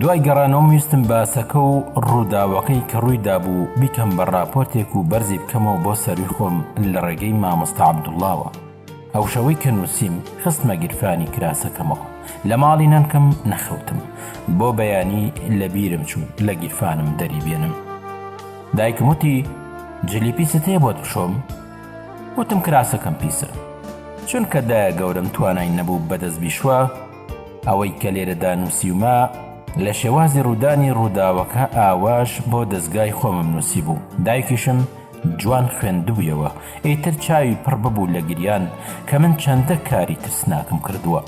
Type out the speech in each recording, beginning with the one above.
دوای گەڕانەوەم ویستم باسەکە و ڕووداوەکەی کە ڕووی دابوو بیکەم بە ڕاپۆرتێک و بەرزی بکەمەوە بۆ سەرووی خۆم لە ڕێگەی مامۆستا عەبدوڵڵاوە ئەو شەوەی کە نووسیم خستمە گیرفانی کراسەکەمەوە لە ماڵی نەنکم نەخەوتم بۆ بەیانی لە بیرم چوو لە گیرفانم دەری بێنم دایکم وتی جلی پیست هەیە بۆت بشۆم وتم کراسەکەم پیسە چونکە دایە گەورم توانای نەبوو بەدەست بیشوە ئەوەی کە لێرەدا نووسیومە لە شێوازی ڕوودانی ڕووداوەکە ئاواش بۆ دەزگای خۆمم نووسی بوو دایکیشم جوان خوێندبوویەوە ئیتر چاوی پڕ ببوو لە گریان کە من چەندە کاری ترسناکم کردووە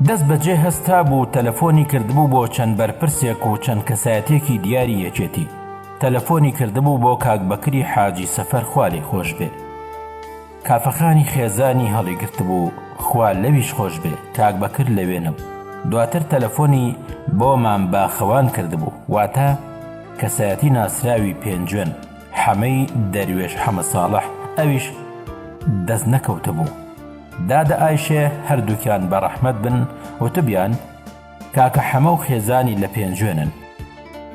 دەست بەجێ هەستا بوو تەلەفۆنی کردبوو بۆ چەند بەرپرسێک و چەند کەسایەتێکی دیاری یەکێتی تەلەفۆنی کردبوو بۆ کاک بەکری حاجی سەفەر خوارێ خۆش بێ کافەخانی خێزانی هەڵیگرتبوو، خوا لەویش خۆش بێ، کاک بەکر لەوێ نەبوو، دواتر تەلەفۆنی بۆ مام باخەوان کردبوو، واتە کەسایەتی ناسراوی پێنجوێن، حەمەی دەروێش حەمە ساڵح، ئەویش دەست نەکەوتبوو. دادە ئایشێ هەردووکیان بە ڕەحمەت بن وتبیان، کاکە حەمە و خێزانی لە پێنجوێنن.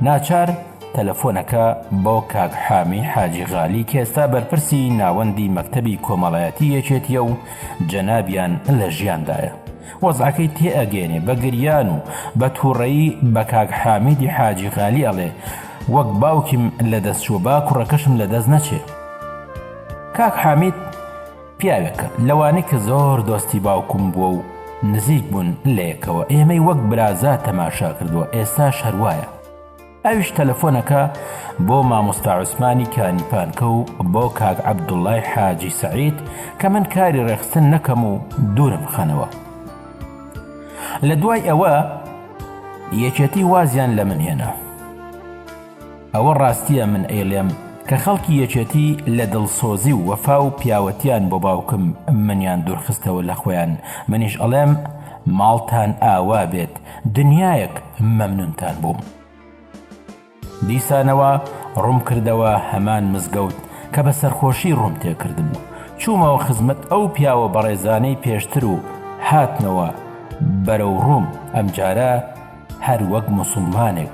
ناچار تەلەفۆنەکە بۆ کاک حامی حاجی غالی کێستا بەرپرسی ناوەندی مەکتەبی کۆمەڵایەتی یەکێتیە و جەنابیان لە ژیاندایە وەزعەکەی تێ ئەگەێنێ بە گریان و بە توڕەیی بە کاک حامیدی حاجی غالی ئەڵێ وەک باوکیم لە دەست چوە با کوڕەکەشم لە دەست نەچێ کاک حامید پیاوێک لەوانەی کە زۆر دۆستی باوکم بووە و نزیک بوون لەیەکەوە ئێمەی وەک برازا تەماشا کردووە ئێستاش هەروایە ئەویش تەلەفۆنەکە بۆ مامۆستا عوسمانی کانیپانکە و بۆ کاک عەبدوڵای حاجی سعید کە من کاری ڕێخستن نەکەم و دوورم خەنەوە لە دوای ئەوە یەکێتی وازیان لە من هێنا ئەوە ڕاستیە من ئەیڵێم کە خەڵکی یەکێتی لە دڵسۆزی و وەفا و پیاوەتیان بۆ باوکم منیان دورخستەوە لە خۆیان منیش ئەڵێم ماڵتان ئاوا بێت دنیایەک مەمنونتان بووم. دیسانەوە ڕوم کردەوە هەمان مزگەوت کە بە سەرخۆشی ڕوم تێکردم و چومەوە خزمەت ئەو پیاوە بەڕێزانەی پێشتر و هاتمەوە بەرەو ڕوم ئەمجارە، هەر وەک موسوڵمانێک،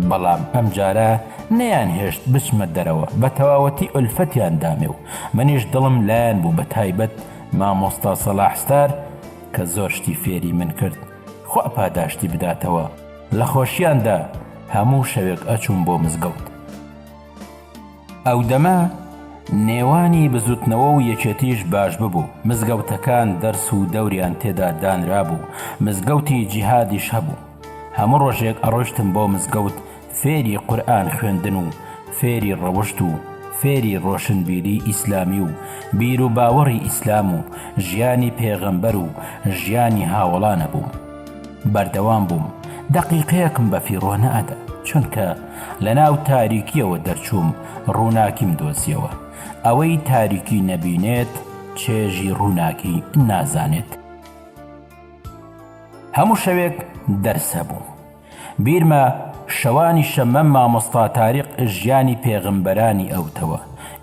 بەڵام ئەم جارە نەیان هێشت بچمە دەرەوە بە تەواوەتی ئۆلفەتیان دامێ و منیش دڵم لایان بوو بە تایبەت مامۆستا سەلاح ستار کە زۆر شتی فێری من کرد خوا پاداشتی بداتەوە لە خۆشیاندا هەموو شەوێک ئەچووم بۆ مزگەوت ئەو دەمە نێوانی بزوتنەوە و یەکێتیش باش ببوو، مزگەوتەکان دەرس و دەوریان تێدا دانرابوو، مزگەوتی جیهادیش هەبوو، هەموو ڕۆژێک ئەڕۆشتم بۆ مزگەوت فێری قورئان خوێندن و فێری ڕەوشت و فێری ڕۆشنبیری ئیسلامی و بیرو باوەڕی ئیسلام و ژیانی پێغەمبەر و ژیانی هاوەڵان ئەبووم. بەردەوام بووم دەقیقەیەکم بە فیڕۆ نەئەدا چونکە لە ناو تاریکیەوە دەرچووم ڕووناکیم دۆزیەوە ئەوەی تاریکی نەبینێت چێژی ڕووناکی نازانێت هەموو شەوێک دەرس هەبوو بیرمە شەوانی شەمە مامۆستا تاریق ژیانی پێغمبەرانی ئەوتەوە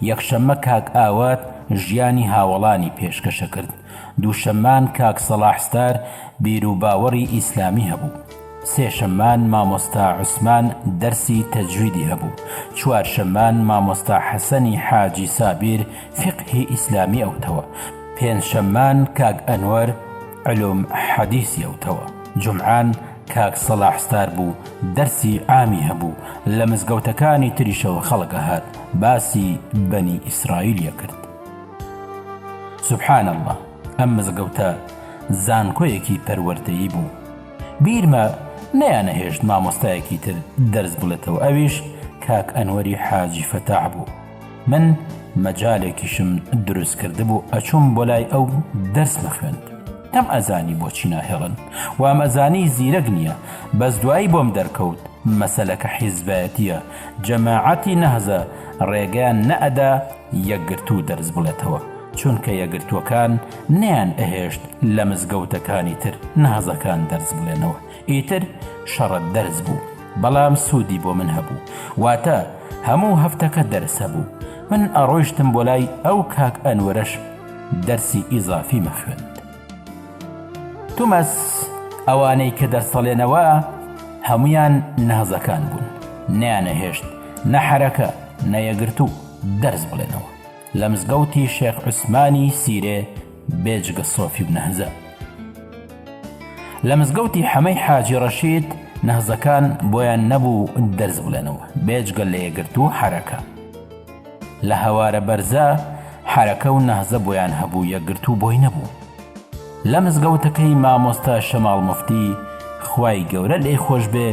یەکشەممە کاک ئاوات ژیانی هاوڵانی پێشکەشە کرد دووشەممان کاک سەڵاح ستار بیرو باوەڕی ئیسلامی هەبوو سێ شەممان مامۆستا عوسمان دەرسی تەجویدی هەبوو چوار شەممان مامۆستا حەسەنی حاجی سابیر فیقهی ئیسلامی ئەوتەوە پێنج شەممان کاک ئەنوەر علوم حەدیسی ئەوتەوە جومعان کاک سەڵاح ستار بوو دەرسی عامی هەبوو لە مزگەوتەکانی تریشەوە خەڵک ئەهات باسی بەنی ئیسرائیل ئەکرد. سبحان اللە ئەم مزگەوتە زانکۆیەکی پەروەردەیی بوو بیرمە نەیانەهێشت مامۆستایەکی تر دەرس بڵێتەوە ئەویش کاک ئەنوەری حاجی فەتاح بوو من مەجالێکیشم دروست کرد بوو ئەچوم بۆ لای ئەو دەرس مەخوێند ئەم ئەزانی بۆچی ناهێڵن وام ئەزانی زیرەک نییە بەس دوایی بۆم دەرکەوت مەسەلەکە حیزبایەتیە جەماعەتی نەهزە ڕێگەیان نەئەدا یەکگرتوو دەرس بڵێتەوە چونکە یەکگرتووەکان نەیان ئەهێشت لە مزگەوتەکانی تر نازەکان دەرس بڵێنەوە ئیتر شەڕە دەرس بوو بەڵام سوودی بۆ من هەبوو واتە هەموو هەفتەکە دەرس هەبوو من ئەڕۆیشتم بۆ لای ئەو کاک ئەنوەرەش دەرسی ئیزافی مەخوێن تومەس ئەوانەی کە دەرسەڵێنەوە هەمویان نەهزەکان بوون نیانە هێشت نە حرەکە نەیەگرتوو دەرس بڵێنەوە لە مزگەوتی شێخ عوسمانی سیرێ بێجگە سۆفی و نەهزە لە مزگەوتی حەمەی حاجی ڕەشید نەهزەکان بۆیان نەبوو دەرس بڵێنەوە بێجگە لە یەگرت و حرەکە لە هەوارە بەرزە حرەکە و نەهزە بۆیان هەبوو یەگرت و بۆی نەبوو لە مزگەوتەکەی مامۆستا شەماڵ مفتی خوای گەورە لێی خۆش بێ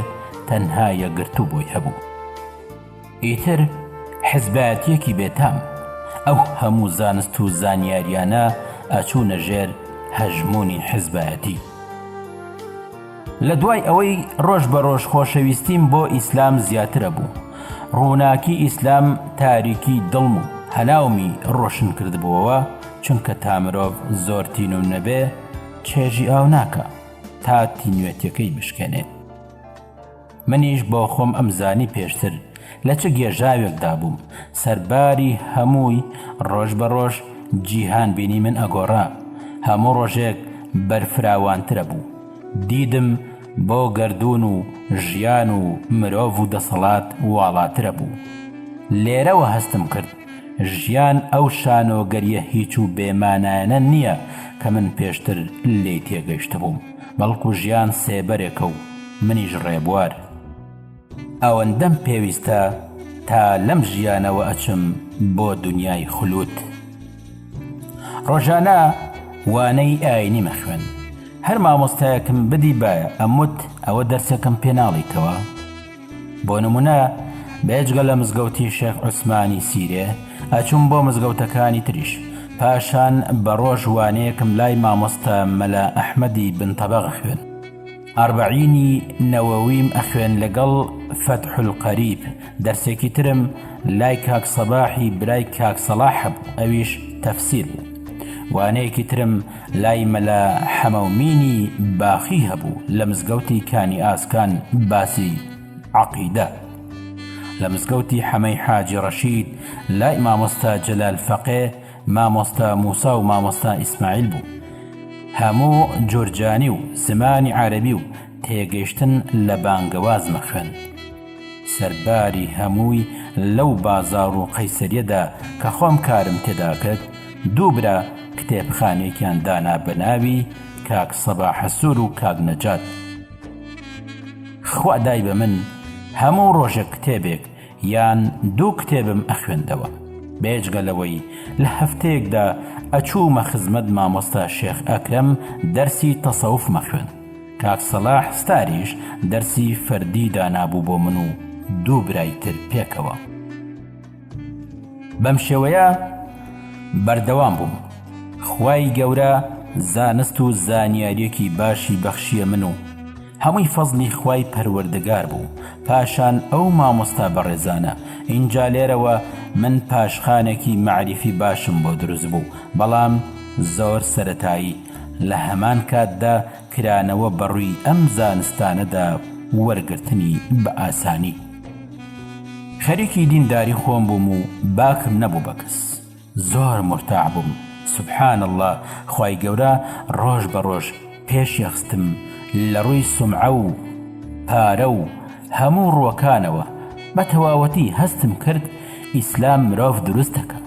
تەنها یەگرت و بۆی هەبوو ئیتر حزبایەتیەکی بێتام. ئەو هەموو زانست و زانیاریانە ئەچوونە ژێر هەژموونی حزبایەتی. لەدوای ئەوەی ڕۆژ بە ڕۆژ خۆشەویستیم بۆ ئیسلام زیاتر ئەبوو، ڕووناکی ئیسلام تاریکی دڵم و هەناومی ڕۆشن کردبووەوە، چونکە تا مرۆڤ زۆر تینوو نەبێ چێژی ئاو ناکا تا تینوێتیەکەی بشکێنێ. منیش بۆ خۆم ئەم زانی پێشتر لە چ گێژاوێکدا بووم سەرباری هەمووی ڕۆژ بە ڕۆژ جیهان بینی من ئەگۆڕا هەموو ڕۆژێک بەرفراوانترە بوو دیدم بۆ گردون و ژیان و مرۆڤ و دەسەڵات واڵاترە بوو لێرەوە هەستم کرد ژیان ئەو شانۆگەریە هیچ و بێمانایەنە نییە کە من پێشتر لی تێگەشتبووم بەڵکو ژیان سێبەرێکە و منیش ڕێبوار ئەوەندەم پێویستە تا لەم ژیانەوە ئەچم بۆ دنیای خلوت ڕۆژانە وانەی ئاینی مەخوێن هەر مامۆستایەکم بدی بایە ئەموت ئەوە دەرسێکم پێناڵیتەوە بۆ نمونە بێجگە لە مزگەوتی شێخ عوسمانی سیرێ ئەچوم بۆ مزگەوتەکانی تریش پاشان بە ڕۆژ وانەیەکم لای مامۆستا مەلا ئەحمەدی بنتەبەغ خوێن ئەربعینی نەوەویم ئەخوێن لەگەڵ فەتحل قەریب دەرسێکی ترم لای کاک سەباحی برای کاک سەڵاح هەبوو ئەویش تەفسیر بوو وانەیەکی ترم لای مەلا حەمەومینی باخی هەبوو لە مزگەوتی کانی ئاسکان باسی عەقیدە لە مزگەوتی حەمەی حاجی ڕەشید لای مامۆستا جەلال فەقێ مامۆستا موسا و مامۆستا ئیسماعیل بوو هەموو جورجانی و زمانی عەرەبی و تێگەشتن لە بانگەوازمە خوێند سەرباری هەمووی لەو بازاڕ و قەیسەریەدا کە خۆم کارم تێدا کرد دوو برا کتێبخانەیەکیان دانا بە ناوی کاک سەباحسوور و کاک نەجات خوا دای بە من هەموو ڕۆژێک کتێبێک یان دوو کتێبم ئەخوێندەوە بێجگە لەوەی لە هەفتەیەکدا ئەچوومە خزمەت مامۆستا شێخ ئەکرەم دەرسی تەسەوف مەخوێن کاک سەلاح ستاریش دەرسی فەردی دانابوو بۆ من و دوو برای تر پێکەوە. بەم شێوەیە بەردەوام بووم. خوای گەورە زانست و زانیاریەکی باشی بەخشیە من و هەمووی فەزلی خوای پەروەردگار بوو پاشان ئەو مامۆستا بەڕێزانە ئینجا لێرەوە من پاشخانێکی مەعریفی باشم بۆ دروست بوو بەڵام زۆر سەرەتایی لە هەمان کاتدا کرانەوە بە ڕووی ئەم زانستانەدا وەرگرتنی بە ئاسانی خەریکی دینداری خۆم بووم و باکم نەبوو بە کەس زۆر مورتاح بووم سبحان اللە خوای گەورە ڕۆژ بە ڕۆژ پێشیخستم لە ڕووی سومعە و پارە و هەموو ڕووەکانەوە بە تەواوەتی هەستم کرد ئیسلام مرۆڤ دروست دەکا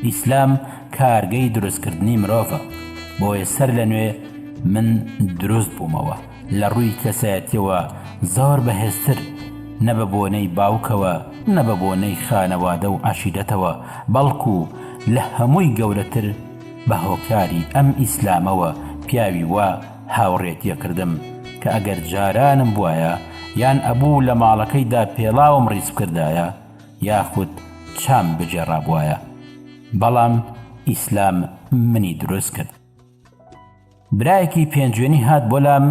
ئیسلام کارگەی دروست کردنی مرۆڤە بۆیە سەر لە نوێ من دروست بوومەوە لە ڕووی کەسایەتیەوە زۆر بەهێزتر نە بە بۆنەی باوکەوە نە بە بۆنەی خانەوادە و عەشیرەتەوە بەڵکو لە هەمووی گەورەتر بە هۆکاری ئەم ئیسلامەوە پیاوی وا هاوڕێ تێکردم کە ئەگەر جارانم بوایە یان ئەبوو لە ماڵەکەیدا پێڵاوم ڕیز بکردایە یاخود چام بگێڕابوایە بەڵام ئیسلام منی دروست کرد. برایەکی پێنجوێنی هات بۆ لام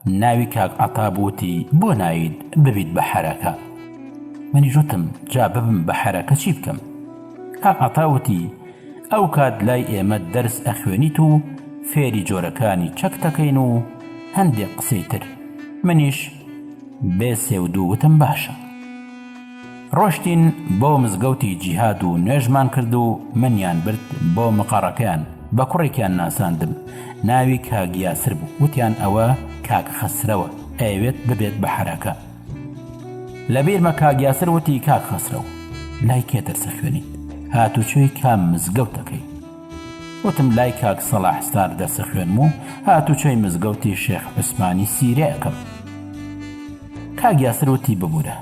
ناوی کاک عەتا بووتی بۆ نایت ببیت بە حەرەکە منی ژوتم جا ببم بە حەرەکە چی بکەم کاک عەتا وتی ئەو کات لای ئێمە دەرس ئەخوێنیت و فێری جۆرەکانی چەک دەکەین و هەندێک قسەی تر منیش بێ سێ و دوو وتم باشە ڕۆشتین بۆ مزگەوتی جیهاد و نوێژمان کرد و منیان برد بۆ مقەڕەکەیان بە کوڕێکیان ناساندم ناوی کاک یاسر بوو وتیان ئەوە کاک خەسرەوە ئەیەوێت ببێت بە حەرەکە لە بیرمە کاک یاسر وتی کاک خەسرەوە لای کێ دەرسە خوێنیت هاتوچۆی کام مزگەوتەکەی وتم لای کاک سەڵاح ستار دەرسە خوێنم و هاتوچۆی مزگەوتی شێخ عوسمانی سیرێ ئەکەم. کاک یاسر وتی ببورە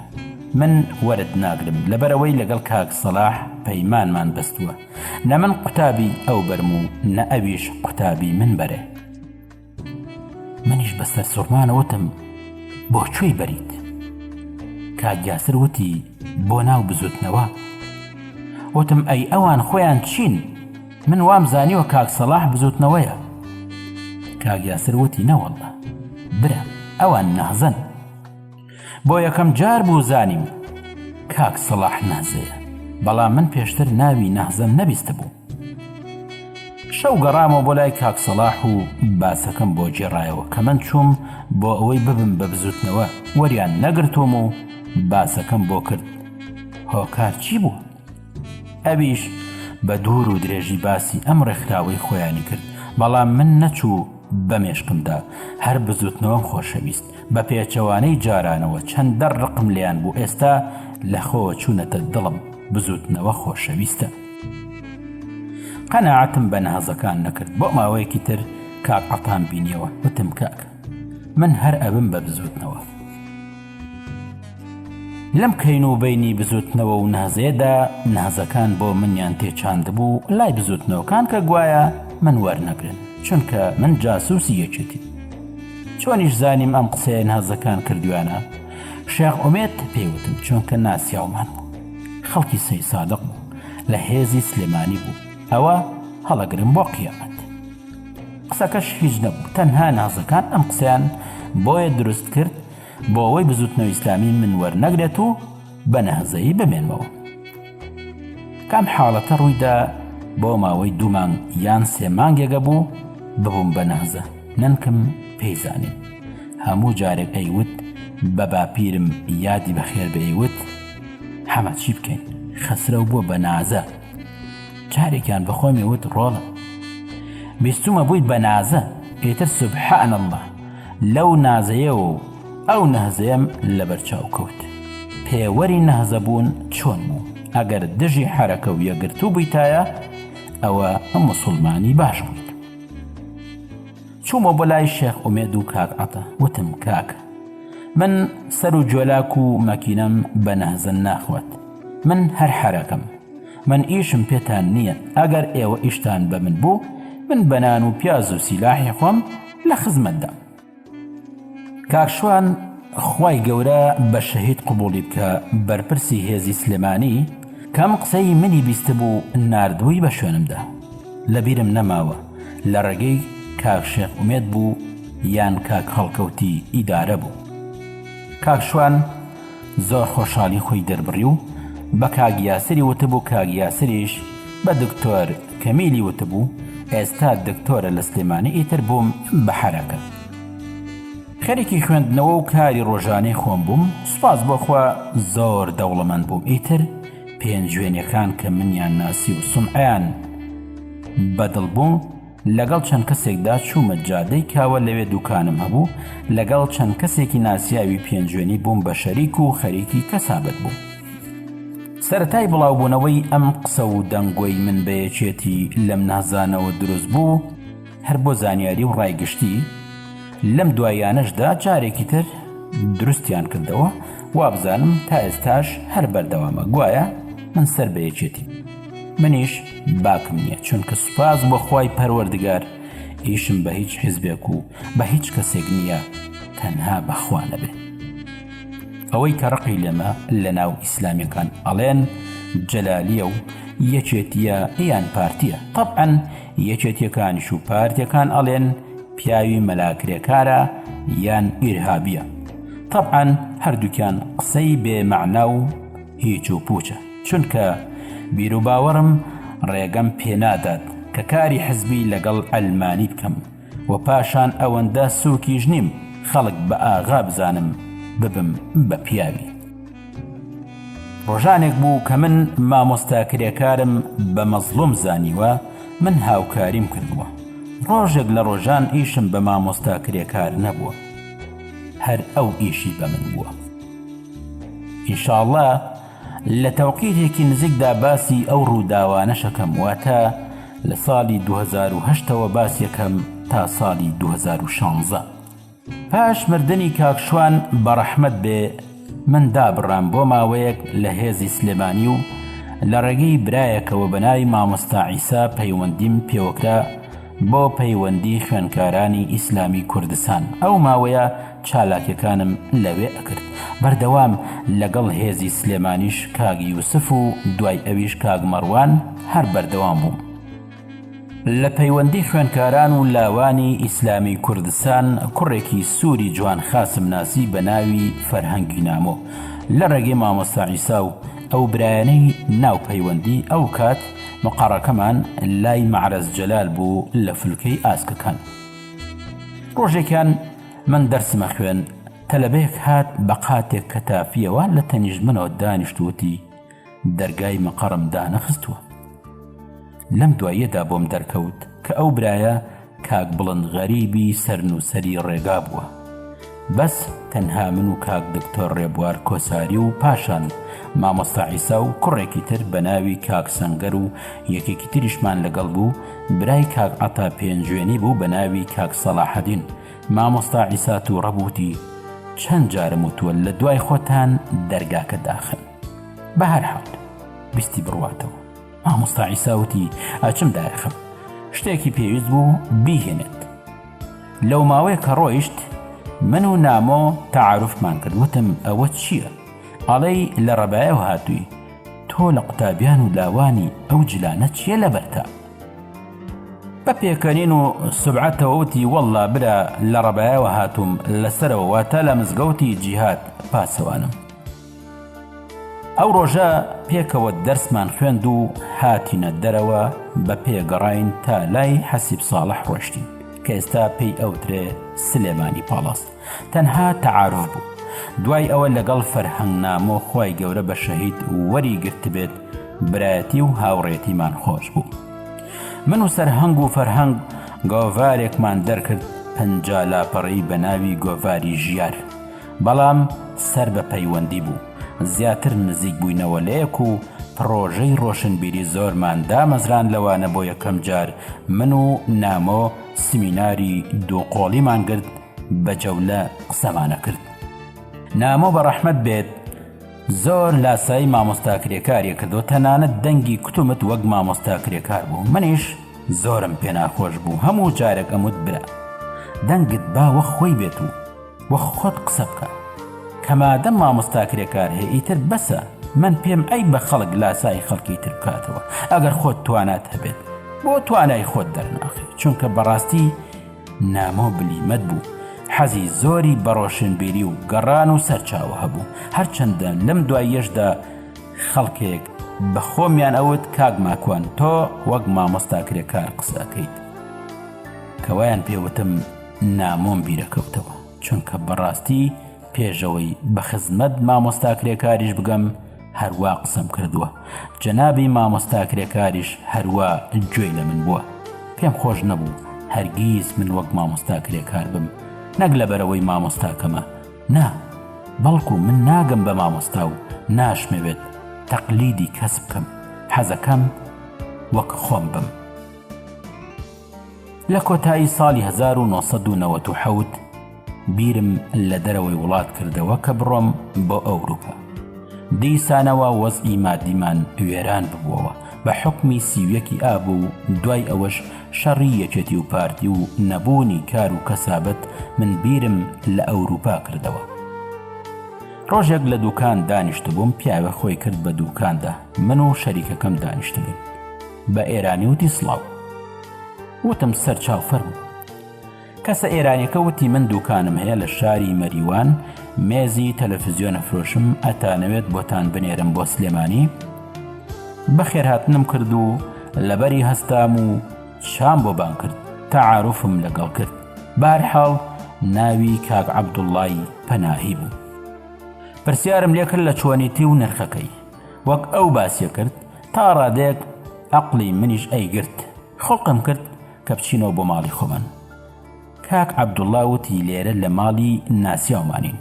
من وەرت ناگرم لەبەرئەوەی لەگەڵ کاک سەڵاح پەیمانمان بەستووە نە من قوتابی ئەو بەرم و نە ئەویش قوتابی من بەرێ. منیش بە سەرسوڕمانە وتم بۆ کوێی بەریت کاک یاسر وتی بۆ ناو بزوتنەوە وتم ئەی ئەوان خۆیان چین من وام زانیوە کاک سەڵاح بزوتنەوەیە کاک یاسر وتی نەوەڵە برا ئەوان نەهزن بۆ یەکەم جار بوو زانیم کاک سەڵاح نازەیە بەڵام من پێشتر ناوی نەهزەم نەبیست بوو شەو گەڕامەوە بۆ لای کاک سەڵاح و باسەکەم بۆ گێڕایەوە کە من چووم بۆ ئەوەی ببم بە بزوتنەوە وەریان نەگرتووم و باسەکەم بۆ کرد هۆکار چی بوو ئەویش بە دوور و درێژی باسی ئەم ڕێکخراوەی خۆیانی کرد بەڵام من نەچوو بە مێشقمدا هەر بزوتنەوەم خۆشەویست بە پێچەوانەی جارانەوە چەندە ڕقم لیان بوو ئێستا لەخۆوە چوونەتە دڵم بزوتنەوە خۆشەویستە قەنەعەتم بە نەهەزەکان نەکرد بۆ ماوەیەکی تر کاک عەتام بینیەوە وتم کاکە من هەر ئەبم بە بزوتنەوە لەم کەین و بینی بزوتنەوە و نازێدا نازەکان بۆ منیان تێچاندبوو لای بزوتنەوەکان کە گوایە من وەرنەگرن چونکە من جاسوسی یەکێتی چۆنیش زانیم ئەم قسەیە نازەکان کردویانە شێخ ئومێت پێوتم چونکە ناسیاومان بوو خەڵکی سەیسادق بوو لە هێزی سلێمانی بوو ئەوە هەڵەگرم بۆ قیامەت قسەکەش هیچ نەبوو تەنها نازەکان ئەم قسەیان بۆیە دروست کرد بۆ ئەوەی بزوتنەوە ئیسلامی من وەرنەگرێت و بە نەهزەیی بمێنمەوە کام حاڵەتە ڕوویدا بۆ ماوەی دوومان یان سێ مانگێگە بوو ببووم بە نەهزە نەنکم پێیزانین هەموو جارێک ئەیوت بە باپیرم یادی بەخێر بەیوت حەمە چی بکەین خەسرەو بووە بە نازە جارێکیان بەخۆمی وت ڕۆڵە بیستمە بووی بە نازە پێتر سبحان الله لەو نازەیە و ئەو نەهزەیەم لەبەرچاو کەوت پێوەری نەهزە بوون چۆن بوو ئەگەر دژی حرەکە و یەگرتوو بوویتایە ئەوە ئەم مسلمانی باش بوویت چوومە بۆ لای شێخ ئومێد و کاک عەتە وتم کاک من سەر و جۆلاک و مەکینەم بە نەهزن ناخوات من هەر حەرەکەم من ئیشم پێتان نییە ئەگەر ئێوە ئیشتان بە من بوو من بەنان و پیاز و سیلاحی خۆم لە خزمەتدا کاکشوان خی گەورە بە شەهید قوبولی بکە بەرپرسی هێزی سلێمانی کەم قسەی منی بیست بوو نردبووی بە شوێنمدا لەبیرم نەماوە لە ڕێگەی کاک شێخ ئومێد بوو یان کاک هەڵکەوتی ئیدارە بوو کاک شوان زۆر خۆشحالی خۆی دەربڕی و بە کاک یاسری وتبوو کاک یاسریش بە دکتۆر کەمیلی وتبوو ئێستا دکتۆرە لە سلێمانی ئیتر بووم بە حەرەکە خەریکی خوێندنەوە و کاری ڕۆژانەی خۆم بووم سوپاس بۆخوا زۆر دەوڵەمەند بووم ئیتر پێنجوێنەکان کە منیان ناسی و سمعیان بەدڵ بوو لەگەڵ چەند کەسێکدا چوومە جادەی کاوە لەوێ دوکانم هەبوو لەگەڵ چەند کەسێکی ناسیاوی پێنجوێنی بووم بە شەریک و خەریکی کەسابەت بوو سەتای بڵاوبوونەوەی ئەم قسە و دەنگۆی من بەیەکێتی لەم نازانەوە دروست بوو هەر بۆ زانیاری و ڕای گشتی لەم دوایانەشدا جارێکی تر دروستیان کردەوە وابزانم تا ئێستاش هەر بەردەوامە گوایە من سەر بە یەکێتی منیش باکم نییە چونکە سوپاس بۆ خی پەروەردگار ئیشم بە هیچ حیزبێک و بە هیچ کەسێک نییە تەنها بەخوا نەبێت ئەوەی کە ڕقی لێمە لە ناو ئیسلامیەکان ئەڵێن جەلالیە و یەکێتیە یان پارتیە طبعاً یەکێتیەکانیش و پارتیەکان ئەڵێن پیاوی مەلا کرێکارە یان ئیرهابیە تەبعەن هەردوکیان قسەی بێ مەعنا و هیچ و پوچە چونکە بیروباوەڕم ڕێگەم پێنادات کە کاری حزبی لەگەڵ ئەلمانی بکەم و پاشان ئەوەندە سوکیش نیم خەڵک بە ئاغا بزانم ببم بە پیاوی ڕۆژانێک بوو کە من مامۆستا کرێکارم بە مەزڵوم زانیوە من هاوکاریم کردووە ڕۆژێک لە ڕۆژان ئیشم بە مامۆستا کرێکار نەبووە هەر ئەو ئیشی بە من بووە ئیشاڵە لە تەوقیتێکی نزیکدا باسی ئەو ڕووداوانەشەکەم واتە لە ساڵی 2010ەوە باسیەکەم تا ساڵی 2016. پاش مردنی کاک شوان بە ڕەحمەت بێ من دابڕام بۆ ماوەیەک لە هێزی سلێمانی و لە ڕێگەی برایەکەوە بە ناوی مامۆستا عیسا پەیوەندیم پێوەکرا بۆ پەیوەندی خوێنکارانی ئیسلامی کوردستان ئەو ماوەیە چالاکیەکانم لەوێ ئەکرد بەردەوام لەگەڵ هێزی سلێمانیش کاک یوسف و دوای ئەویش کاک مەڕوان هەر بەردەوام بووم. لە پەیوەندی خوێنکاران و لاوانی ئیسلامی کوردستان کوڕێکی سوری جوان خاسم ناسی بە ناوی فەرهەنگی نامۆ لە ڕێگەی مامۆستا عیسا و ئەو برایەنەی ناو پەیوەندی ئەو کات مقەڕەکەمان لای مەعرەز جەلال بوو لە فلکەی ئاسکەکان ڕۆژێکیان من دەرسمە خوێن تەلەبەیەک هات بە قاتێک کە تافیەوە لە تەنیشت منەوە دانیشتووتی دەرگای مقەڕم دانەخستووە لەم دواییەدا بۆم دەرکەوت کە ئەو برایە کاک بڵند غەریبی سەرنووسەری ڕێگا بووە بەس تەنها من و کاک دکتۆر ڕێبوار کۆساری و پاشان مامۆستا عیسا و کوڕێکی تر بە ناوی کاک سەنگەر و یەکێکی تریشمان لەگەڵ بوو برای کاک عەتا پێنجوێنی بوو بە ناوی کاک سەڵاحەدین مامۆستا عیسا تووڕە بووتی چەند جارم وتووە لە دوای خۆتان دەرگاکە داخن بەهەرحاڵ ویستی بڕواتەوە مامۆستا عیساوتی ئەچم دایەخم شتێکی پێویست بوو بیهێنێت لەو ماوەیە کە ڕۆیشت من و نامۆ تەعاعرفمان کرد وتم ئەوە چییە؟ ئەڵەی لە ڕەبایەوە هاتووی تۆ لە قوتابیان و لاوانی ئەو جلانە چییە لە بەرتا؟ بە پێکەنین و سرعەتەوەوتی وەڵا برا لە ڕەبایەوە هاتووم لەسەرەوە واتە لە مزگەوتی جیهات پاسەوانم. ئەو ڕۆژە پێکەوە دەرسمان خوێند و هاتینە دەرەوە بە پێ گەڕاین تا لای حەسیب ساڵح ڕۆشتین کە ئێستا پێی ئەوترێ سلێمانی پاڵاس تەنها تەعاعرف بوو دوای ئەوە لەگەڵ فەرهەنگ نامۆ خی گەورە بە شەهید وەری گرتبێت برایەتی و هاوڕێتیمان خۆش بوو من و سەرهەنگ و فەرهەنگ گۆڤارێکمان دەرکرد پەنج لاپەڕی بە ناوی گۆڤاری ژیار بەڵام سەر بە پەیوەندی بوو زیاتر نزیک بووینەوە لە یەک و پڕۆژەی ڕۆشنبیری زۆرمان دامەزراند لەوانە بۆ یەکەم جار من و نامۆ سمیناری دوو قۆڵیمان گرت بە جەولە قسەمانە کرد نامۆ بە ڕەحمەت بێت زۆر لاسایی مامۆستا کرێکاریە کردو تەنانەت دەنگی کوتومت وەک مامۆستا کرێکار بوو منیش زۆرم پێناخۆش بوو هەموو جارێک ئەموت برا دەنگت باوە خۆی بێت و وە خۆت قسە بکە کە مادەم مامۆستا کرێکار هەیە ئیتر بەسە من پێم عەیبە خەڵک لاسایی خەڵکی تر بکاتەوە ئەگەر خۆت توانات هەبێت بۆ توانای خۆت دەرناخی چونکە بەڕاستی نامۆ بلیمەت بوو حەزی زۆری بە ڕۆشنبیری و گەڕان و سەرچاوە هەبوو هەرچەندە لەم دواییەشدا خەڵکێک بە خۆمیان ئەوت کاک ماکوان تۆ وەک مامۆستا کرێکار قسەکەیت کەوایان پێوتم نامۆم بیرەکەوتەوە چونکە بەڕاستی پێشەوەی بە خزمەت مامۆستا کرێکاریش بگەم هەروا قسەم کردووە جەنابی مامۆستا کرێکاریش هەروا گوێی لە من بووە پێم خۆش نەبوو هەرگیز من وەک مامۆستا کرێکار بم نەک لە بەرەوەی مامۆستاکەمە نا بەڵکو من ناگەم بە مامۆستا و ناشمەوێت تەقلیدی کەس بکەم حەزەکەم وەک خۆم بم. لە کۆتایی ساڵی هەزار و نۆ سەد و نەوەد و حەوت بیرم لە دەرەوەی وڵات کردەوە کە بڕۆم بۆ ئەوروپا. دیسانەوە وەزعی مادیمان وێران ببووەوە بە حوکمی سی و یەکی ئاب و دوای ئەوەش شەڕی یەکێتی و پارتی و نەبوونی کار و کەسابەت من بیرم لە ئەوروپا کردەوە. ڕۆژێک لە دووکان دانیشتبووم پیاوێ خۆی کرد بە دووکاندا من و شەریکەکەم دانیشتبووین. بە ئێرانی وتی سڵاو وتم سەر چاو فەرمو کەسە ئێرانەکە وتی من دوکانم هەیە لە شاری مەریوان مێزی تەلەفزیۆنە فرۆشم ئەتانەوێت بۆتان بنێرم بۆ سلێمانی بەخێر هاتنم کرد و لەبەری هەستام و شام بۆ بان کرد تەعاعرفم لەگەڵ کرد بارحاڵ ناوی کاک عەبدوڵای پەناهی بوو پرسیارم لێکرد لە چۆنیتی و نرخەکەی وەک ئەو باسیە کرد تا ڕادێک عقلی منیش ئەیگرت خڵقم کرد کە بچینەوە بۆ ماڵی خۆمان کاک عەبدوڵا وتی لێرە لە ماڵی ناسیاومانین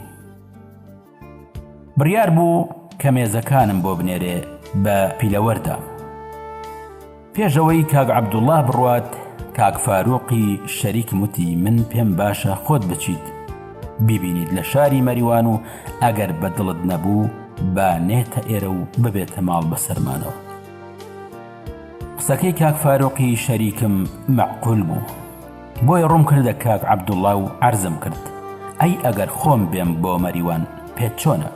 بڕیار بوو کە مێزەکانم بۆ بنێرێ بە پیلەوەردا پێشەوەی کاک عەبدوڵا بڕوات کاک فاروقی شەریکم وتی من پێم باشە خۆت بچیت بیبینیت لە شاری مەریوان و ئەگەر بە دڵت نەبوو با نێتە ئێرە و ببێتە ماڵ بەسەرمانەوە قسەکەی کاک فارۆقی شەریکم مەعقول بوو بۆیە ڕوم کردە کاک عەبدوڵا و عرضم کرد ئەی ئەگەر خۆم بێم بۆ مەریوان پێت چۆنە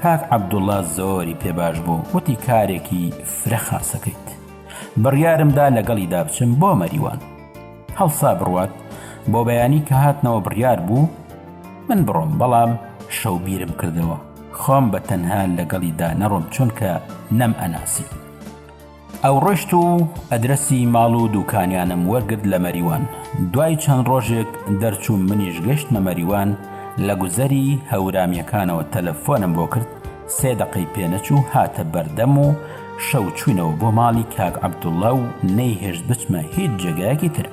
کاک عەبدوڵا زۆری پێ باش بوو وتی کارێکی فرە خاسەکەیت بڕیارمدا لەگەڵی دابچم بۆ مەریوان هەڵسا بڕوات بۆ بەیانی کە هاتنەوە بڕیار بوو من بڕۆم بەڵام شەو بیرم کردەوە خۆم بە تەنها لەگەڵیدا نەڕۆم چونکە نەم ئەناسی ئەو ڕۆشت و ئەدرسی ماڵ و دوکانیانم وەرگرت لە مەریوان دوای چەند ڕۆژێک دەرچوو منیش گەشتمە مەریوان لە گوزەری هەورامیەکانەوە تەلەفۆنم بۆ کرد سێ دەقەی پێ نەچوو هاتە بەردەم و شەو چووینەوە بۆ ماڵی کاک عەبدوڵا و نەیهێشت بچمە هیچ جێگایەکی تر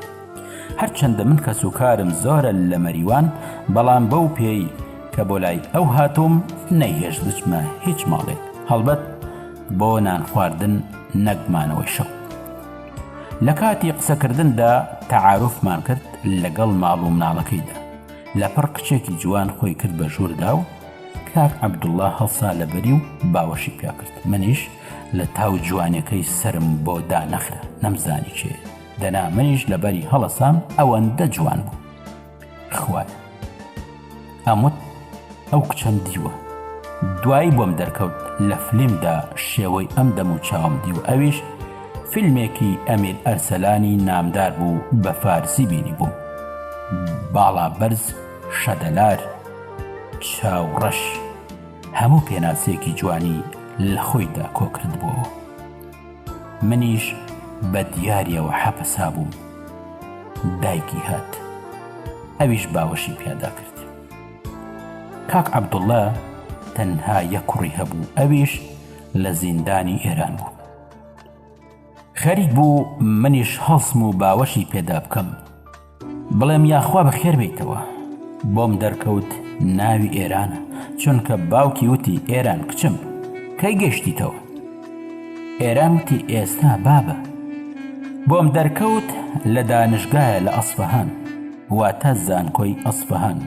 هەرچەندە من کەس و کارم زۆرە لە مەریوان بەڵام بەو پێی کە بۆ لای ئەو هاتووم نەیهێشت بچمە هیچ ماڵێک هەڵبەت بۆ نان خواردن نەگمانەوەی شەو لە کاتی قسەکردندا تەعاعرفمان کرد لەگەڵ ماڵ و مناڵەکەیدا لە پڕ کچێکی جوان خۆی کرد بە ژووردا و کاک عەبدوڵا هەڵسا لە بەری و باوەشی پێ کرد، منیش لە تاو جوانیەکەی سەرم بۆ دانەخرا نەمزانی کێیە، دەنا منیش لە بەری هەڵەسام ئەوەندە جوان بوو. خوایە. ئەم وت ئەو کچەم دیوە. دوایی بۆم دەرکەوت لە فلیمدا شێوەی ئەم دەم و چاوم دیوە ئەویش فیلمێکی ئەمیر ئەرسەلانی نامدار بوو بە فارسی بینی بووم. باڵا بەرز شەدەلار. چاوڕەش هەموو پێناسەیەکی جوانی لە خۆیدا کۆکردبووەوە. منیش بە دیاریەوە حەپەسابووم. دایکی هات. ئەویش باوەشی پیادا کرد. کاک عەبدوڵڵا تەنها یەک کوڕی هەبوو ئەویش لە زیندانی ئێران بوو. خەریک بوو منیش هەڵسم و باوەشی پێدا بکەم. بڵێم یاخوا بەخێر بێیتەوە بۆم دەرکەوت ناوی ئێرانە چونکە باوکی وتی ئێران کچم کەی گەشتیتەوە ئێران وتی ئێستا بابە بۆم دەرکەوت لە دانشگایە لە ئەسفەهان واتە زانکۆی ئەسفەهان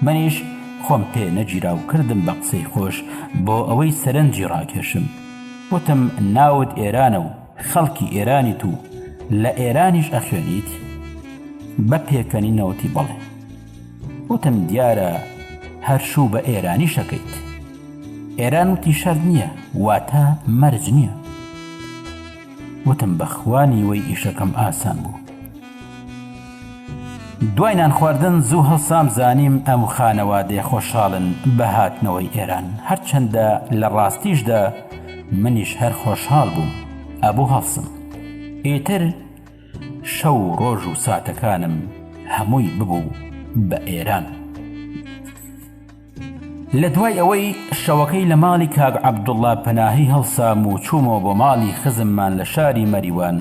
منیش خۆم پێ نەگیرا و کردم بە قسەی خۆش بۆ ئەوەی سەرنجی ڕاکێشم وتم ناوت ئێرانە و خەڵکی ئێرانیت و لە ئێرانیش ئەخوێنیت بە پێکەنی نەوتی بەڵێ وتم دیارە هەرشوو بە ئێرانی شەکەیت ئێران وتی شەر نییە واتە مەرج نییە وتم بەخوانی وەی ئیشەکەم ئاسان بوو دوای نان خواردن زوو هەڵسام زانیم ئەم خانەوادەیە خۆشحاڵن بە هاتنەوەی ئێران هەرچەندە لە ڕاستیشدا منیش هەر خۆشحاڵ بووم ئەبوو هەڵسم ئیتر شەو و ڕۆژ و ساتەکانم هەمووی ببوو بە ئێران. لە دوای ئەوەی شەوەکەی لە ماڵی کاک عەبدوڵڵا پەناهی هەڵسام و چوومەوە بۆ ماڵی خزممان لە شاری مەریوان،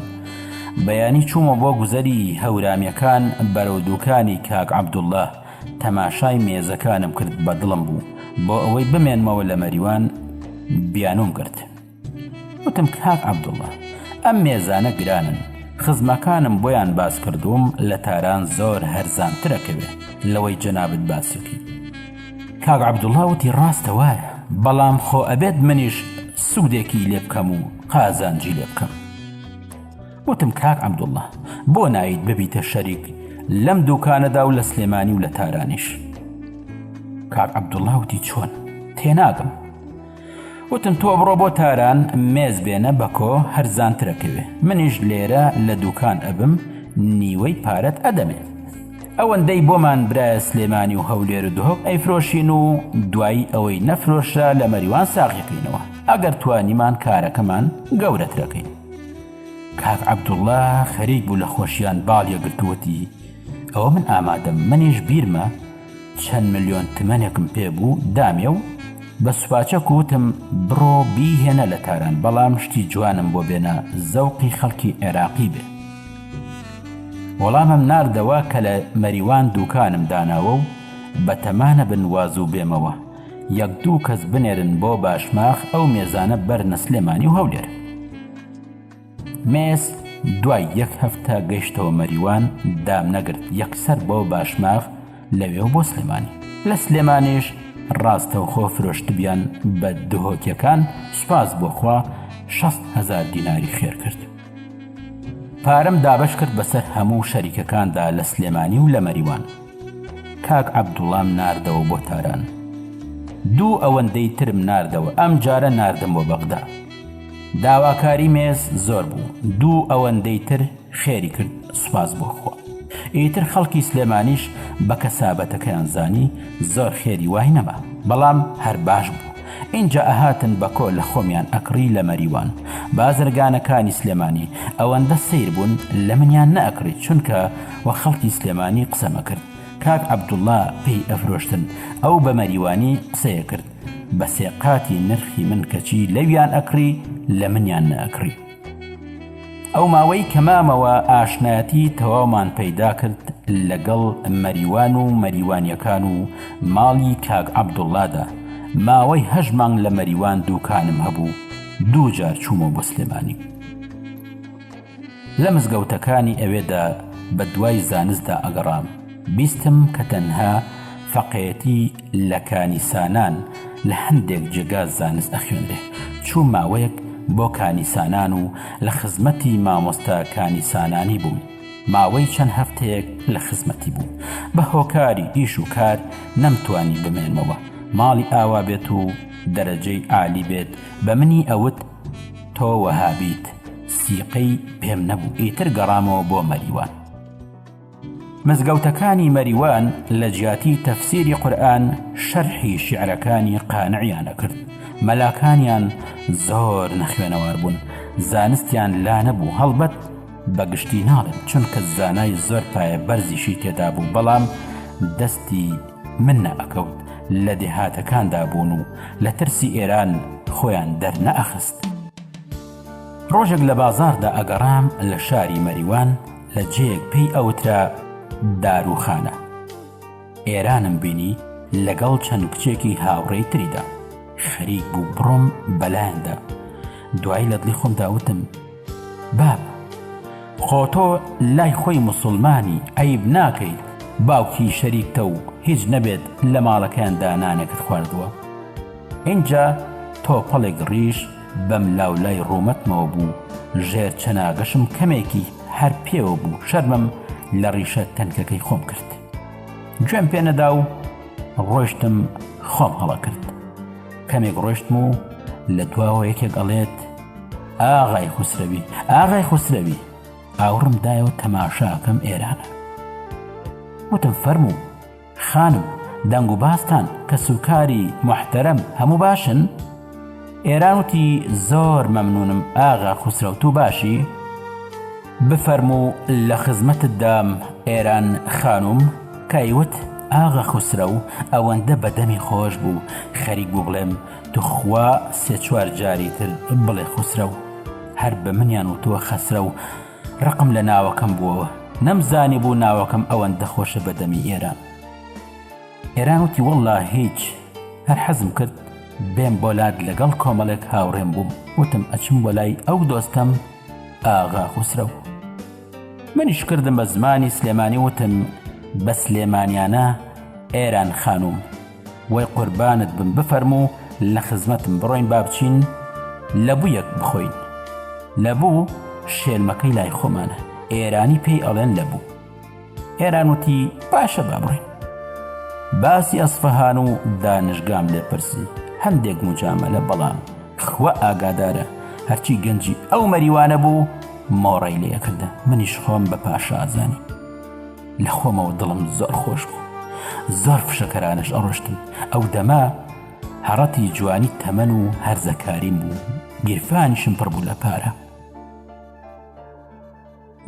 بەیانی چوومەوە بۆ گوزەری هەورامییەکان بەرەو دووکانی کاک عەبدوڵڵا، تەماشای مێزەکانم کرد بە دڵم بوو بۆ ئەوەی بمێنمەوە لە مەریوان بیانووم کرد. وتم، کاک عەبدوڵڵا، ئەم مێزانە گرانن، خزمەکانم بۆیان باس کردووم لە تاران زۆر هەرزانتر ئەکەوێ لەوەی جەنابت باسی بکەیت. کاک عەبدوڵڵا وتی، ڕاستە وایە، بەڵام خۆ ئەبێت منیش سوودێکی لێ بکەم و قازانجی لێ بکەم. وتم، کاک عەبدوڵڵا، بۆ نایت ببیتە شەریک لەم دووکانەدا و لە سلێمانی و لە تارانیش؟ کاک عەبدوڵڵا وتی، چۆن؟ تێناگەم. وتم تۆ بڕۆ بۆ تاران مێز بێنە بەکۆ هەرزانترەکەوێ منیش لێرە لە دوکان ئەبم نیوەی پارەت ئەدەمێ ئەوەندەی بۆمان برایە سلێمانی و هەولێر و دهۆک ئەیفرۆشین و دوایی ئەوەی نەفرۆشرا لە مەریوان ساغیقینەوە ئەگەر توانیمان کارەکەمان گەورەترەکەین کاک عەبدوڵا خەریک بوو لە خۆشیان باڵیە گرتووەتی ئەوە من ئامادەم منیش بیرمە چەند ملیۆن تمەنێکم پێ بوو دامێ و بە سوپاچەک وتم بڕۆ بیهێنە لە تاران بەڵام شتی جوانم بۆ بێنە زەوقی خەڵکی عێراقی بێ وەڵامم ناردەوە کە لە مەریوان دووکانم داناوە و بەتەمانە بن وازوو بێمەوە یەک دوو کەس بنێرن بۆ باشماخ ئەو مێزانە بەرنە سلێمانی و هەولێر مێس دوای یەک هەفتە گەشتەوە مەریوان دام نەگرت یەکسەر بۆ باشماغ لەوێ و بۆ سلێمانی لە سلێمانیش ڕاستەوخۆ فرۆشتبیان بە دهۆکەکان سوپاس بۆخوا شەست هزار دیناری خێر کرد پارەم دابش کرد بەسەر هەموو شەریکەکاندا لە سلێمانی و لە مەریوان کاک عەبدوڵام ناردەوە بۆ تاران دوو ئەوەندەی ترم ناردەوە ئەم جارە ناردم بۆ بەغدا داواکاری مێز زۆر بوو دوو ئەوەندەی تر خێری کرد سوپاس بۆ خوا ئیتر خەڵکی سلێمانیش بە کەسابەتەکەیان زانی زۆر خێری وای نەما بەڵام هەر باش بوو ئینجا ئەهاتن بە کۆ لە خۆمیان ئەکڕی لە مەریوان بازرگانەکانی سلێمانی ئەوەندە سیر بوون لە منیان نەکڕی چونکە وە خەڵکی سلێمانی قسەمەکرد کاک عبدوڵا پێی ئەفرۆشتن ئەو بە مەریوانی قسەیە کرد بە سێ قاتی نرخی من کەچی لەویان ئەکڕی لە منیان نەئەکڕی ئەو ماوەی کە مامەوە ئاشنایەتی تەواومان پەیدا کرد لەگەڵ مەریوان و مەریوانیەکان و ماڵی کاک عەبدوڵادا ماوەی هەش مانگ لە مەریوان دووکانم هەبوو دوو جار چوومە بۆ سلێمانی لە مزگەوتەکانی ئەوێدا بە دوای زانستدا ئەگەڕام، بیستم کە تەنها فەقێتی لە کانیسانان لە هەندێک جێگا زانست ئەخوێنرێ، چووم ماوەیەک بۆ کانیسانان و لە خزمەتی مامۆستا کانیسانانی بووم، ماوەی چەند هەفتەیەک لە خزمەتی بووم، بە هۆکاری ئیش و کار نەمتوانی بمێنمەوە، ماڵی ئاوا بێت و دەرەجەی عالی بێت بە منی ئەوت، تۆ وەهابیت سیقەی پێم نەبوو ئیتر گەڕامەوە بۆ مەریوان. مزگەوتەکانی مەریوان لە جیاتی تەفسیری قورئان شەرحی شیعرەکانی قانعیان ئەکرد مەلاکانیان زۆر نەخوێنەوار بوون زانستیان لا نەبوو هەڵبەت بەگشتی ناڵێم چونکە زانای زۆر پایە بەرزیشی تێدابوو بەڵام دەستی من نەئەکەوت لە دێهاتەکاندا بوون و لە ترسی ئێران خۆیان دەرنەئەخست. ڕۆژێک لە بازاڕدا ئەگەڕام لە شاری مەریوان لە جێیەک پێی ئەوترا دارووخانە ئێرانم بینی لەگەڵ چەند کچێکی هاوڕێی تریدا خەریک بوو بڕۆم بەلایاندا دوایی لە دڵی خۆمداوتم باب، خۆ تۆ لای خۆی موسوڵمانی، عەیب ناکەیت باوکی شەریکتە و هیچ نەبێت لە ماڵەکەیاندا نانێکت خواردووە؟ ئینجا تۆپەڵێک ڕیش بەم لاو لای ڕوومەتمەوە بوو، ژێر چەناگەشم کەمێکی هەر پێوە بوو، شەرمم لە ڕیشە تەنکەکەی خۆم کرد. گوێم پێ نەدا و ڕۆیشتم خۆم هەڵە کرد. کەمێک ڕۆیشتم و لە دواوە یەکێک ئەڵێت، ئاغای خوسرەوی ئاغای خوسرەوی ئاوڕم دایەوە تەماشاکەم ئێرانە وتم فەرموو خانم دەنگ و باستان کە سوکاری محتەرم هەموو باشن ئێران وتی زۆر مەمنونم ئاغا خوسرەوت تو باشی بفەرموو لە خزمەتت دام ئێران خانوم کایوت ئاغا خوسرە و ئەوەندە بەدەمی خۆش بوو خەریک بوو بڵێم توخوا سێ چوار جاری تر بڵێ خوسرەو هەر بە منیان وتووە خەسرە و ڕقم لە ناوەکەم بووەوە نەمزانی بوو ناوەکەم ئەوەن دەخۆشە بەدەمی ئێران ئێران وتی وەڵا هیچ هەر حەزم کرد بێم بۆ لات لەگەڵ کۆمەڵێک هاوڕێم بووم وتم ئەچم بۆ لای ئەو دۆستەم ئاغا خوسرەو منیش کردم بە زمانی سلێمانی وتم بە سلێمانیانە ئێران خانوم وەی قوربانت بم بفەرموو لە خزمەتم بڕۆین با بچین لە بوویەک بخۆین لە بوو شێلمەکەی لای خۆمانە ئێرانی پێی ئەڵێن لە بوو ئێران وتی باشە با بڕۆین باسی ئەسفەهان و دانشگام لێ پرسی هەندێک مجاملە بەڵام خوا ئاگادارە هەرچی گەنجی ئەو مەریوانە بوو مۆڕەی لێکردن منیش خۆم بە پاشا ئازانی لە خۆمەوە دڵم زۆر خۆش بوو زۆر فشەکەرانش ئەڕۆشتم ئەو دەما هەڕەتی جوانی تەمەن و هەرزەکاریم بوو گیرفانیشم پڕ بوو لە پارە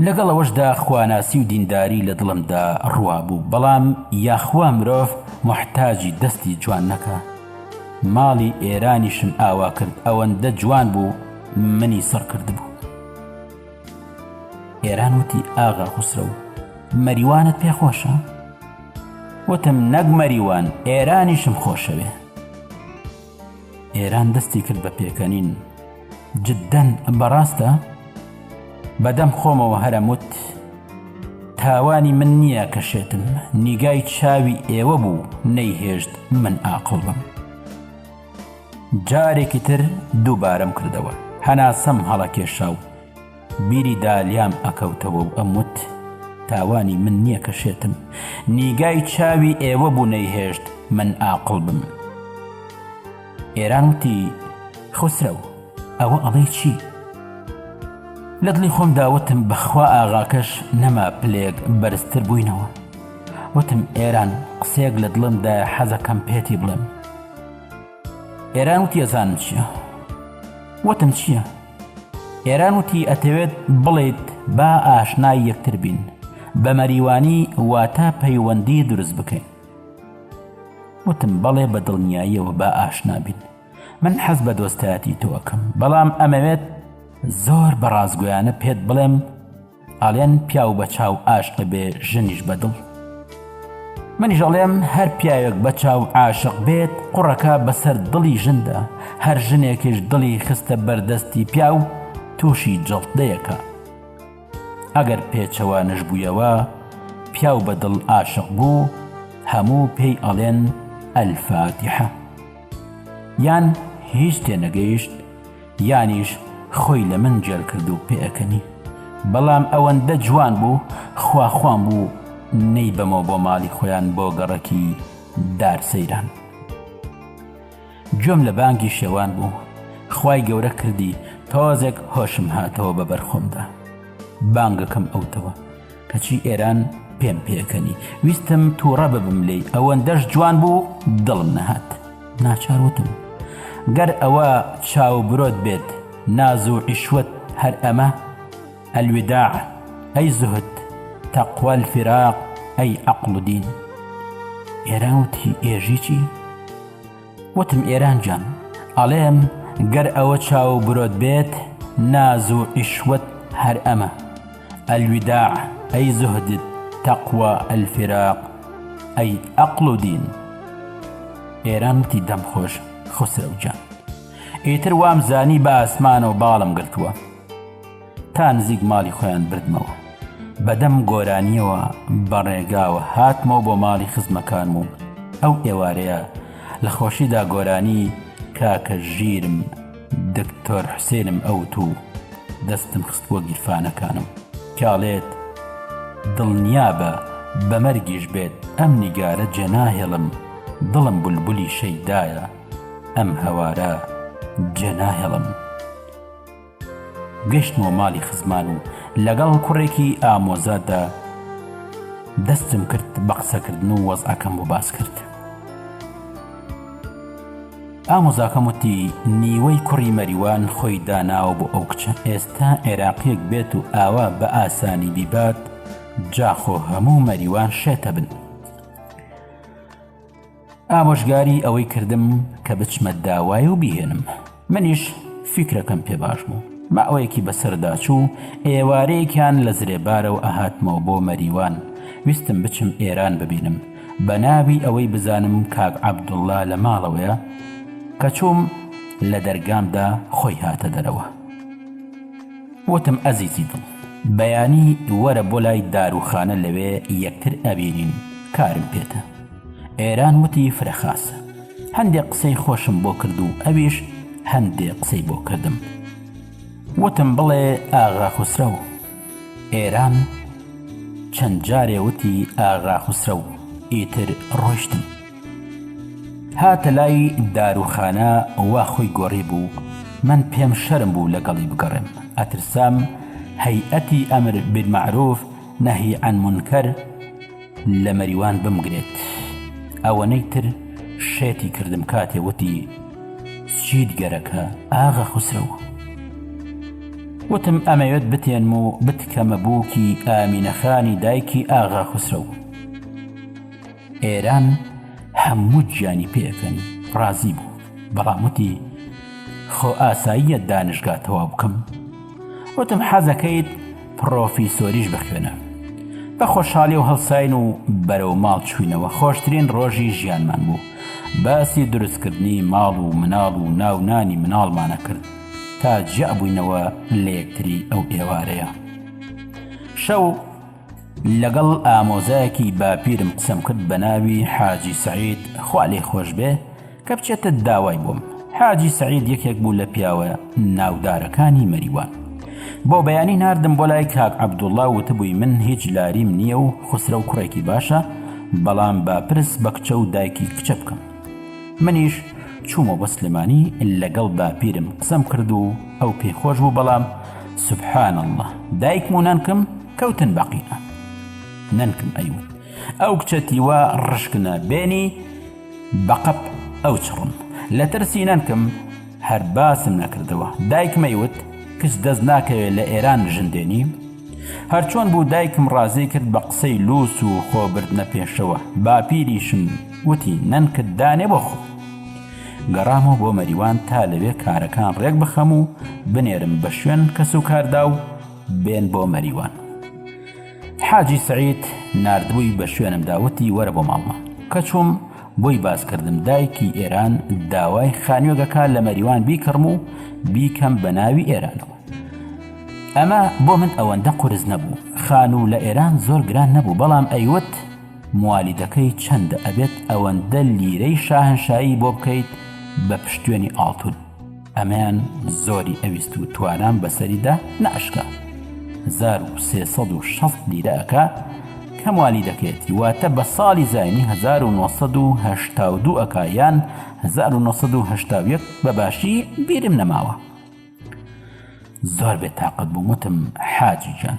لەگەڵ ئەوەشدا خواناسی و دینداری لە دڵمدا ڕوا بوو بەڵام یاخوا مرۆڤ محتاجی دەستی جوان نەکە ماڵی ئێرانیشم ئاوا کرد ئەوەندە جوان بوو منی سڕکرد بوو ئێران وتی ئاغا خوسرەو مەریوانت پێ خۆشە وتم نەک مەریوان ئێرانیشم خۆشەوێ ئێران دەستی کرد بە پێکەنین جددەن بەڕاستە بەدەم خۆمەوە هەرەموت تاوانی من نییە کە شێتم نیگای چاوی ئێوە بوو نەیهێشت من ئاقڵ بم جارێکی تر دووبارەم کردەوە هەناسەم هەڵەکێشا و بیری دالیام ئەکەوتەوە و ئەموت تاوانی من نییە کە شێتم نیگای چاوی ئێوە بوو نەیهێشت من ئاقڵ بم ئێران وتی خسرەو ئەوە ئەڵێ چی؟ لە دڵی خۆم داوتم بەخوا ئاغاکەش نەما پلێک بەرزتر بووینەوە وتم ئێران قسێک لە دڵمدا حەزەکەم پێتی بڵێم ئێران وتی ئەزانم چییە وتم چییە؟ ئێران وتی ئەتەوێت بڵیت با ئاشنای یەکتر بین بە مەریوانی واتە پەیوەندی دروست بکەین وتم بەڵێ بە دڵنیاییەوە با ئاشنابین من حەز بە دۆستایەتی تۆکەم بەڵام ئەمەوێت زۆر بەڕازگویانە پێت بڵێم ئەڵێن پیاو بە چاو ئاشق بێ ژنیش بە دڵ منیش ئەڵێم هەر پیاوێک بە چاو عاشق بێت قوڕەکە بەسەر دڵی ژندا هەر ژنێکش دڵی خستە بەردەستی پیاو تووشی جەڵتەیەکە ئەگەر پێچەوە نەشبوویەوە پیاو بە دڵ عاشق بوو هەموو پێی ئەڵێن ئەلفاتیحە یان هیچ تێنەگەیشت یانیش خۆی لە من جل کرد و پێکەنی بەڵام ئەوەندە جوان بوو خواخوام بوو نەی بەمەوە بۆ ماڵی خۆیان بۆ گەڕەکی دار سەیران گوێم لە بانگی شێوان بوو خی گەورە کردی تۆزێک هۆشم هاتەوە بە بەرخۆمدا بانگەکەم ئەوتەوە کەچی ئێران پێم پێکەنی ویستم تووڕە ببم لێی ئەوەندەش جوان بوو دڵم نەهات ناچار وتم گەر ئەوە چاو برۆت بێت ناز و عیشوت هەر ئەمە ئەلودا ئەی زهت تەقوەل فراق ئەی عقل و دین ئێران وتی ئێژی چی؟ وتم ئێران جان ئەڵێم گەر ئەوە چاو و برۆت بێت ناز و عیشوەت هەر ئەمە ئەلویداع ئەی زوهدد تەقوا ئەلفیراق ئەی ئەقڵ و دین ئێران وتی دەم خۆش خوسرەو جان ئیتر وام زانی بە ئاسمانەوە باڵم گرتووە تا نزیک ماڵی خۆیان بردمەوە بەدەم گۆرانیەوە بە ڕێگاوە هاتمەوە بۆ ماڵی خزمەکانم و ئەو ئێوارەیە لە خۆشیدا گۆرانی کاکە ژیرم دکتۆر حوسێنم ئەوت و دەستم خستووە گیرفانەکانم کاڵێت دڵنیابە بەمەرگیش بێت ئەم نیگارە جێناهێڵم دڵم بولبولی شەیدایە ئەم هەوارە جێناهێڵم. گەشتمەوە ماڵی خزمان و لەگەڵ کوڕێکی ئامۆزادا دەستم کرد بە قسەکردن و وەزعەکەم بۆ باس کرد ئامۆزاکەم وتی نیوەی کوڕی مەریوان خۆی داناوە بۆ ئەو کچە ئێستا عێراقیەک بێت و ئاوا بە ئاسانی بیبات جاخۆ هەموو مەریوان شێتە بن ئامۆژگاری ئەوەی کردم کە بچمە داوای و بیهێنم منیش فیکرەکەم پێ باش بوو ماوەیەکی بەسەردا چوو ئێوارەیەکیان لە زرێبارە و ئەهاتمەوە بۆ مەریوان ویستم بچم ئێران ببینم بە ناوی ئەوەی بزانم کاک عەبدوڵلا لە ماڵەوەیە کە چووم لە دەرگامدا خۆی هاتە دەرەوە وتم ئەزیزی دڵ بەیانی وەرە بۆ لای داروخانە لەوێ یەکتر ئەبینین کارم پێتە ئێران وتی فرەخاسە هەندێک قسەی خۆشم بۆ کرد و ئەویش هەندێ قسەی بۆ کردم وتم بڵێ ئاغا خوسرە و ئێران چەند جارێ وتی ئاغا خوسرە و ئیتر ڕۆشتن هاتە لای داروخانە وا خۆی گۆڕی بوو من پێم شەرم بوو لەگەڵی بگەڕێم ئەترسام هەیئەتی ئەمر بالمعروف نهی عن منکر لە مەریوان بمگرێت ئەوەنەی تر شێتی کردم کاتێ وتی چیت گەرەکە ئاغا خوسرەوە وتم ئەمەوێت بتێنم و بتکەمە بووکی ئامینەخانی دایکی ئاغا خوسرەو ئێران هەموو گیانی پێکەنی ڕازی بوو بەڵام وتی خۆ ئاساییە دانشگا تەوا بکەم وتم حەزەکەیت پڕۆفیسۆریش بخوێنە. بە خۆشحالی و هەڵساین و بەرەو ماڵ چوینەوە خۆشترین ڕۆژی ژیانمان بوو باسی دروستکردنی ماڵ و مناڵ و ناونانی مناڵمانە کرد تا جیا بووینەوە لە یەکتری ئەو ئێوارەیە شەو لەگەڵ ئامۆزایەکی باپیرم قسەم کرد بە ناوی حاجی سعید خوا لێ خۆش بێ کەبچێتە داوای بۆم. حاجی سەعید یەکێک بوو لە پیاوە ناودارەکانی مەریوان. بۆ بەیانی ناردم بۆ لای کاک عەبدوڵڵا وتبووی من هیچ لاریم نییە و خوسرەو کوڕێکی باشە، بەڵام با پرس بە کچە و دایکی کچە بکەم. منیش چوومە بۆ سلێمانی لەگەڵ باپیرم قسەم کرد و ئەو پێی خۆش بوو بەڵام سبحان اللە دایکم و نەنکم کەوتن بە قینە. نەنکم ئەیوت ئەو کچە تیوا ڕشکنە بێنی، بە قەپ ئەو چڕم لە ترسی نەنکم هەر باسم نەکردەوە دایکم ئەیوت کچ دەست ناکەوێت لە ئێران ژن دێنی هەرچۆن بوو دایکم ڕازی کرد بە قسەی لوس و خۆ بردنە پێشەوە باپیریشم وتی نەنکت دانێ بۆ خۆ گەڕامەوە بۆ مەریوان تا لەوێ کارەکان ڕێک بخەم و بنێرم بە شوێن کەس و کاردا و بێن بۆ مەریوان حاجی سەعید ناردبووی بە شوێنمدا وتی وەرە بۆ ماڵمان کە چووم بۆی باسکردم دایکی ئێران داوای خانوێگەکە لە مەریوان بیکڕم و بیکەم بە ناوی ئێرانەوە ئەمە بۆ من ئەوەندە قرس نەبوو خان و لە ئێران زۆر گران نەبوو بەڵام ئەیوت موالیدەکەی چەندە ئەبێت ئەوەندە لیرەی شاهنشایی بۆ بکەیت بە پشتێنی ئاڵتون ئەمەیان زۆری ئەویست و توانام بەسەریدا ناشکا هزار و سێ سەد و شەست لیرە ئەکا کەموالی دەکەێتی واتە بە ساڵی زینی 1970 ئەکا یان 1970 بە باشی بیرم نەماوە زۆر بێ تااقەت بووم وتم حاجی جان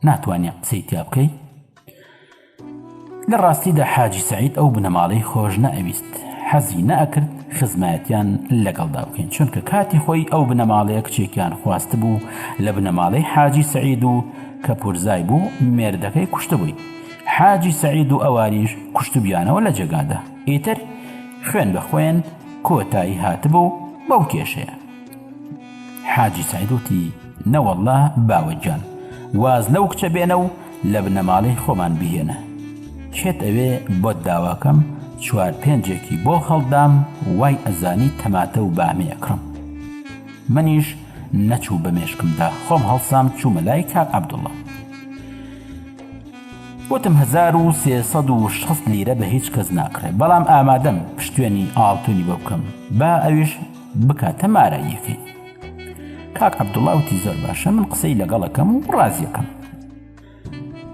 ناتوانێت قسەی تیا بکەیت لە ڕاستیدا حاجی سەعید ئەو بنەماڵەی خۆش نەئەویست، حەزی نەئەکرد خزمایەتیان لەگەڵدا بکەین، چونکە کاتی خۆی ئەو بنەماڵەیە کچێکیان خواستبوو لە بنەماڵەی حاجی سەعید و کە پورزای بوو مێردەکەی کوشتبووی، حاجی سەعید و ئەوانیش کوشتبیانەوە لە جێگادا، ئیتر خوێن بە خوێن کۆتایی هاتبوو بەو کێشەیە. حاجی سەعید وتی، نەوەڵڵا باوە گیان، واز لەو کچە بێنە و لە بنەماڵەی خۆمان بیهێنە. کێت ئەوێ بۆت داواکەم، چوار پێنجێکی بۆ هەڵدام، وای ئەزانی تەماتە و بامێ ئەکڕم. منیش نەچوو بە مێشکمدا، خۆم هەڵسام چوومە لای کاک عەبدوڵڵا. وتم هەزار و سێ سەد و شەست لیرە بە هیچ کەس ناکڕێ، بەڵام ئامادەم پشتێنی ئاڵتوونی بۆ بکەم، با ئەویش بکاتە مارەییەکەی کاک عەبدوڵا وتی زۆر باشە من قسەی لەگەڵەکەم و ڕازیەکەم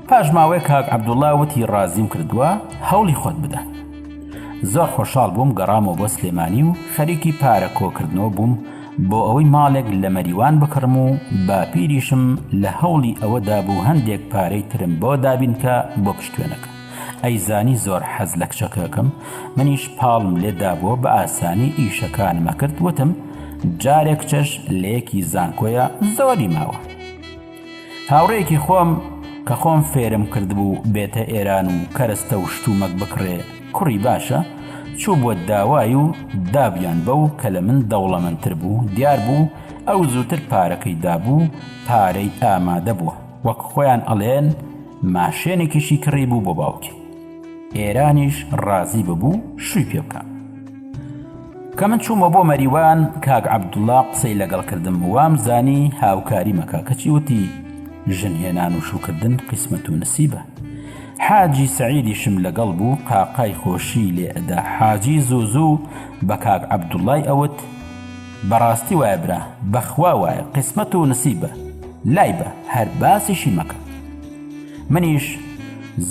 پاش ماوەیە کاک عەبدوڵا وتی ڕازیم کردووە هەوڵی خۆت بدە زۆر خۆشحاڵ بووم گەڕامەوە بۆ سلێمانی و خەریکی پارە کۆکردنەوە بووم بۆ ئەوەی ماڵێک لە مەریوان بکڕم و باپیریشم لە هەوڵی ئەوەدا بوو هەندێک پارەی ترم بۆ دابینکە بۆ پشتێنەکە ئەی زانی زۆر حەز لە کچەکەکەم منیش پاڵم لێ دابووە بە ئاسانی ئیشەکانم ئەکرد وتم جارێ کچەش لە یەکی زانکۆیە زۆری ماوە هاوڕێکی خۆم کە خۆم فێرم کردبوو بێتە ئێران و کەرستە و شتومەک بکڕێ کوڕی باشە چوو بووە داوای و دابیان بەو کە لە من دەوڵەمەندتر بوو دیار بوو ئەو زووتر پارەکەی دابوو پارەی ئامادە بووە وەک خۆیان ئەڵێن ماشێنێکیشی کڕی بوو بۆ باوکی ئێرانیش ڕازی ببوو شووی پێ بکە کە من چوومە بۆ مەریوان کاک عەبدوڵا قسەی لەگەڵ کردم وام زانی هاوکاری مەکە کەچی وتی ژن هێنان و شوکردن قیسمەت و نسیبە حاجی سعیدیشم لەگەڵ بوو قاقای خۆشی لێ ئەدا حاجی زوو زوو بە کاک عەبدوڵای ئەوت بەڕاستی وایە برا بەخوا وایە قیسمەت و نسیبە لای بە هەر باسیشی مەکە منیش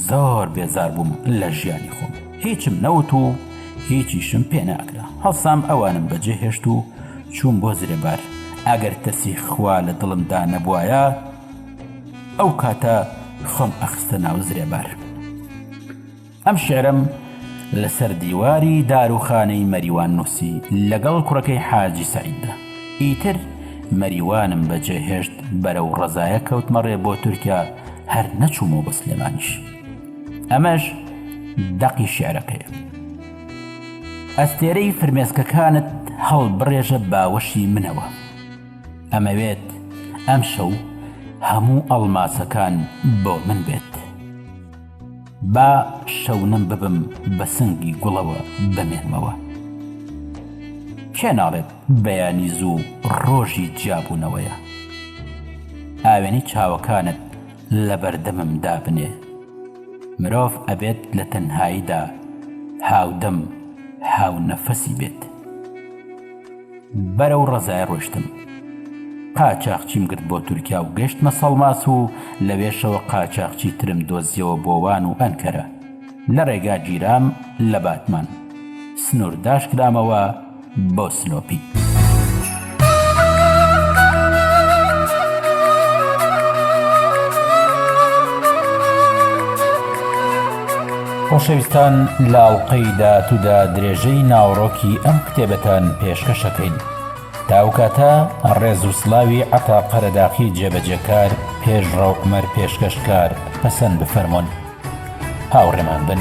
زۆر بێزار بووم لە ژیانی خۆم هیچم نەوت و هیچیشم پێ ناکرا هەڵسام ئەوانم بەجێ هێشت و چووم بۆ زرێبار ئەگەر ترسی خوا لە دڵمدا نەبوایە ئەو کاتە خۆم ئەخستە ناو زرێبار ئەم شیعرەم لەسەر دیواری داروخانەی مەریوان نووسی لەگەڵ کوڕەکەی حاجی سەعیددا. ئیتر مەریوانم بەجێهێشت بەرەو ڕەزایە کەوتمە ڕێ بۆ تورکیا هەر نەچوومەوە بۆ سلێمانیش. ئەمەش دەقی شیعرەکەیە. ئەستێرەی فرمێسکەکانت هەڵبڕێژە باوەشی منەوە. ئەمەوێت ئەمشەو هەموو ئەڵماسەکان بۆ من بێت. با شەونم ببم بە سنگی گوڵەوە بمێنمەوە کێ ناڵێت بەیانی زوو ڕۆژی جیابوونەوەیە ئاوێنەی چاوەکانت لە بەردەمم دابنێ مرۆڤ ئەبێت لە تەنهاییدا هاودەم هاو نەفەسی بێت بەرەو ڕەزای ڕۆشتم قاچاخچیم گرت بۆ تورکیا و گەشتمە سەڵماس و لەوێشەوە قاچاخچی ترم دۆزیەوە بۆوان و ئەنکەرە لە ڕێگا گیرام لە باتمان سنوور داشکرامەوە بۆ سلۆپی. خۆشەویستان لە ئەڵقەی داهاتوودا درێژەی ناوەڕۆکی ئەم کتێبەتان پێشکەش ئەکەین تا ئەو کاتە ڕێز و سڵاوی عەتا قەرەداخی جێبەجێکار پێشڕەو عومەر پێشکەشکار پەسەند بفەرموون هاوڕێمان بن.